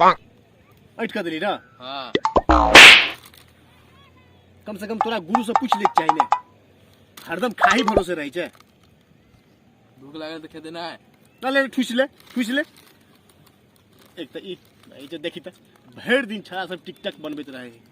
अटि कऽ देली ने हाँ कम से कम तोरा गुरु से पूछ लेके चाही ने हरदम खाही भरोसे रहै छै भूख लागल तऽ खेते ना है ना ले ठुसि ले ठुसि ले एक तऽ ई ई जे देखी तऽ भरि दिन छड़ा सब टिकटक बनबैत रहै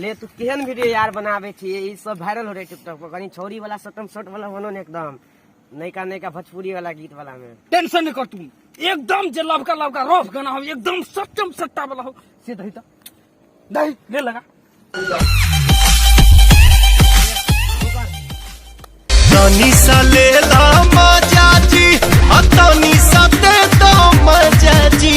ले तू केहन वीडियो यार बनावे छी ई सब वायरल हो रहे टिकटॉक पर कहीं छौरी वाला सटम सट वाला बनो ने एकदम नयका नयका भोजपुरी वाला गीत वाला में टेंशन नहीं कर तू एकदम जे लवका लवका रफ गाना हो एकदम सट्टम सट्टा वाला हो से दही तो दही ले लगा तनी सा ले ला मजा जी आ तनी सा दे दो मजा जी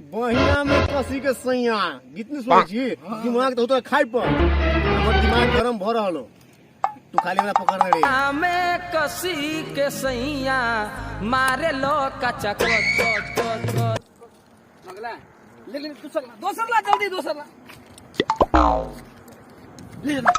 बहिना में कसी के सैया कितनी सुन छी दिमाग तो तो खाई पर हमर दिमाग गरम भ रहल हो तू खाली हमरा पकड़ रे आमे कसी के सैया मारे लो कचा कच कच कच कच लगला ले ले दूसर ला दूसर ला जल्दी दूसर ला ले ले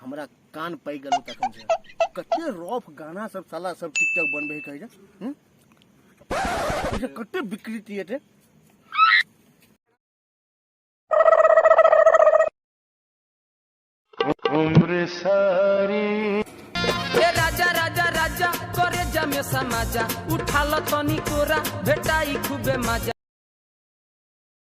हमरा कान पाकि गेल तखन से कते रफ गाना सब साला सब टिकटॉक बनबै कहै छै हूँ? ई जे कते विकृति हेतै ए राजा राजा राजा करे जमे समाजा उठाल तनी कोरा भेटाई खूबे मजा